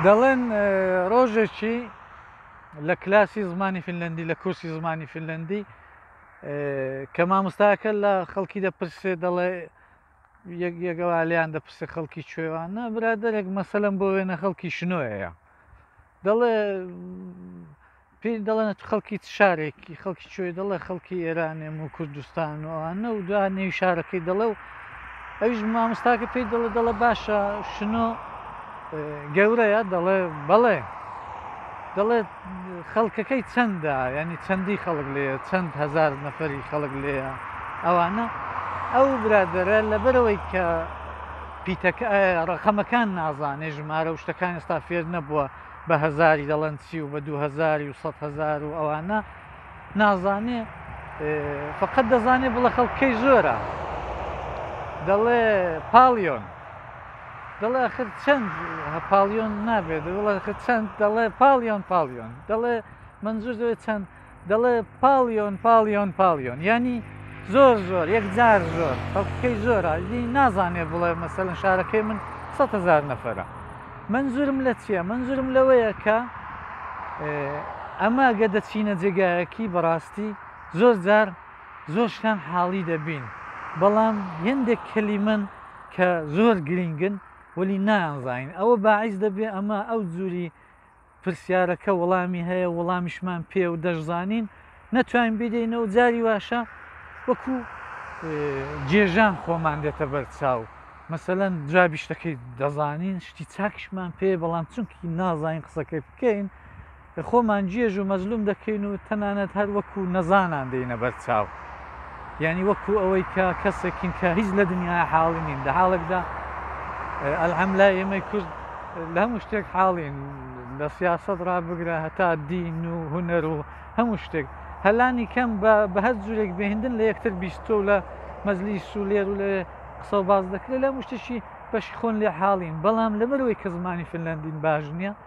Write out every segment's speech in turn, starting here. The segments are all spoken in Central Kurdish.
دەڵێن ڕۆژێکی لە کلاسی زمانی فنلندی لە کورسی زمانی فنلندی کە مامۆستاکە لە خەڵکی دەپرسێ دەڵێ یەکێکەوە لێیان دەپرسێ خەڵکی کوێوانە برادێک مەسەلم بۆ وێنە خەڵکی شنۆەیە دەڵێ پێی دەڵێن خەڵکی چ شارێکی خەڵکی کوێی دەڵێ خەڵکی ئێرانێم و کوردستان و ئەوانە و دو نێوی شارەکەی دەڵێ و ئەویش مامۆستاکە پێی دەڵێ دەڵێ باشە شنۆ گەورەیە دەڵێ بەڵێ دەڵێت خەڵکەکەی چەندە ینی چەندی خەڵک لێە چەند هزار نەفەری خەڵک لێە ئەوانە ئەو برادرە لەبەرەوەی کە پیتەکە ڕەقەمەکان نازانێ ژمارە و شتەکان ئێستا فێر نەبووە بە هەزاری دەڵێن چی و بە دوو هەزاری و سەد هەزار و ئەوانە نازانێ فقط دەزانێ بڵە خەڵکەی زۆرە دەڵێ پاڵیۆن دەڵێ خر چەند پاڵیۆن نابێت وڵە چەند دەڵێ پاڵیۆن پاڵیۆن دەڵێ منزور دەوێت چەند دەڵێ پاڵیۆن پاڵیۆن پاڵیۆن یانی زۆر زۆر یەکجار زۆر خەڵکەکەی زۆرە دی نازانێ بڵێ مەسەلەن شارەکەی من سە هزار نەفرە منزورم لە چییە منزورم لەوەیە کە ئەمە گە دەچینە جێگایەکی بەڕاستی زۆر جار زۆر شتان حاڵی دەبین بەڵام هندێک کەلی من کە زۆر گرنگن وەلی نانزانین ئەوە باعیس دەبێ ئەمە ئەو جووری پرسیارەکە وەڵامی هەیە وەڵامیشمان پێ و دەشزانین نەتوانین بیدەینە و جاری واشە وەکو جێژان خۆمان دێتە بەرچاو مەسەەن جوابی شتەکەی دەزانین شتی چاکشمان پێ بەڵام چونکی نازانین قسەکەی بکەین خۆمان جێژ و مەزلوم دەکەین و تەنانەت هەر وەکو نەزانان دێنە بەرچاو یانی وەکو ئەوەی کە کەسێکین کە هیچ لە دنیا حاڵی نین لە حاڵێکدا ئەلحەم لای ئێمەی کورد لە هەموو شتێک حاڵین لە سیاست ڕا بگرە هەتا دین و هوەر و هەموو شتێک هەلانی کەم بە هەر جورێک بهێندن لە یەکتر بیستۆ لە مەزلی سولێر و لە قسە و باز دەکرێت لە مشتشی بەشی خۆن لێ حاڵین بەڵام لەبەرەوەی کە زمانی فنلندین باش نییە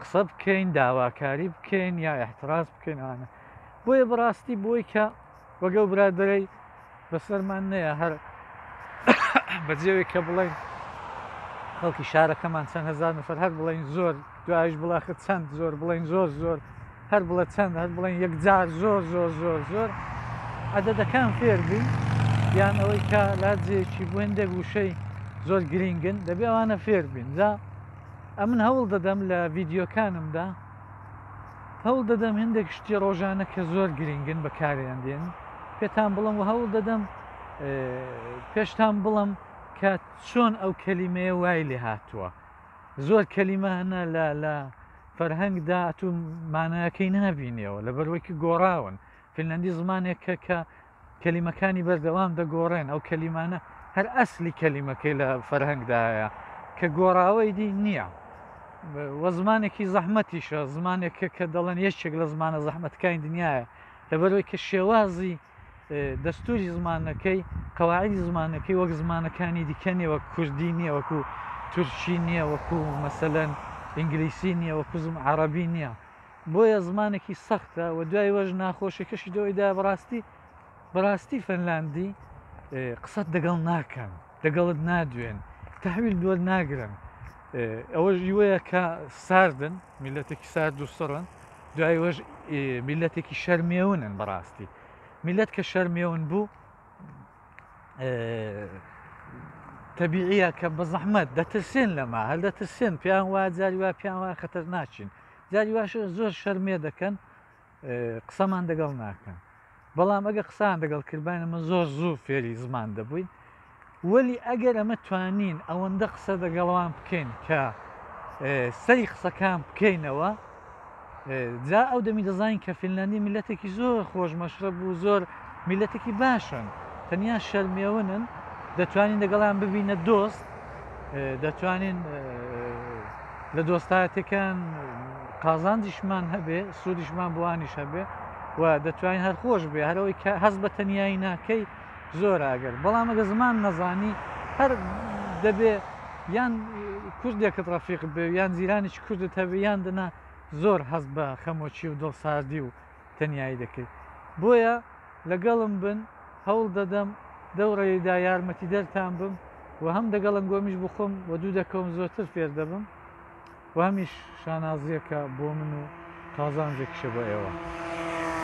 قسە بکەین داواکاری بکەین یا احتراز بکەین ئاە بۆیە بڕاستی بۆی کە وەگەڵ برادرەی بەسەرمان نەیە هەر بەجێوێک کە بڵێن خەڵکی شارەکەمان چەند هزار نفر هەر بڵین زۆر دوایش بڵاخە چەند زۆر بڵین زۆر زۆر هەر بڵە چەند هەر بڵێن یەکجار زۆر زۆر زۆر زۆر عددەکان فێربی یان ئەوەی کە لاجێکی بێندێک وشەی زۆر گرینگن دەبێ ئەوانە فێربین جا ئەمن هەوڵ دەدەم لە ڤیدیۆکانمدا هەوڵ دەدەم هەندێک شتی ڕۆژانە کە زۆر گرنگن بەکاریان دێن پێتان بڵم و هەوڵ دەدەم پێشتان بڵم کە چۆن ئەو کەلیمەیە وای لێ هاتووە زۆر کەلیمە هەنە لە لە فەرهەنگدا تو مانایەکەی نابینەوە لە بەروەکی گۆڕاون فنلندی زمانێکە کە کەلیمەکانی بەردەوام دەگۆڕێن ئەو کەلیمانە هەر ئەسلی کەلیمەکەی لە فەرهەنگدایە کە گۆڕاوەی دی نییە وە زمانێکی زەحمەتیشە زمانێک کە دەڵێن یەکێک لە زمانە زەحمەتەکانی دنیاە لەبەرەوەی کە شێوازی دەستوری زمانەکەی قەواعدی زمانەکەی وەک زمانەکانی دیکە نیە وەک کوردی نییە وەکو تورکی نییە وەکو مەسەەن ئینگلیسی نییە وەکو زم عربی نییە بۆیە زمانێکی سەختە و دوای وەش ناخۆشیەکەشی دەوەی دا بەڕاستی بەڕاستی فەنلاندی قسەت دەگەڵ ناکەن دەگەڵت نادوێن تحویل دووە ناگرن ئەوەش یوەیە کە ساردن میلەتێکی سارد و سڕن دوای وەش میلەتێکی شەرمێونن بەڕاستی میلەت کە شەرمێون بوو تەبیعە کە بە زەحمەت دەترسێن لەما هەر دەترسێن پیان وا جاری وا پیان وا خەتەر ناچین جاری واشە زۆر شەرمێ دەکەن قسەمان دەگەڵ ناکەن بەڵام ئەگە قسان دەگەڵ کردبان ئەمە زۆر زوو فێری زمان دەبووین وەلی ئەگەر ئەمە توانین ئەوەندە قسە دەگەڵوان بکەین کە سەری قسەکان بکەینەوە جا ئەو دەمی دەزانین کە فیللەندی میلەتێکی زۆر خۆش مەشرە بوو زۆر میللەتێکی باشن تەنیا شەرمێونن دەتوانین دەگەڵیان ببینە دۆست دەتوانین لە دۆستایەتەکان قازانجیشمان هەبێ سوودیشمان بۆوانیش هەبێ و دەتوانین هەر خۆش بێ هەرەوەی کە هەز بە تەنیایی ناکەی زۆر ئەگەر بەڵام ئەگە زمان نەزانی هەر دەبێ یان کوردێکت ڕەفیق بێ یان زیرانیش کوردت هەبێ یان دەنا زۆر هەز بە خەمۆکی و دڵساردی و تەنیایی دەکەیت بۆیە لەگەڵم بن هەوڵ دەدەم دەو ڕێیدا یارمەتیدەرتان بم و هەم دەگەڵ ئەنگۆمیش بخۆم و دوو دەکەوم زۆرتر فێر دەبم و هەمیش شانازییەکە بۆ من و قازانجێکیشە بۆ ئێوە.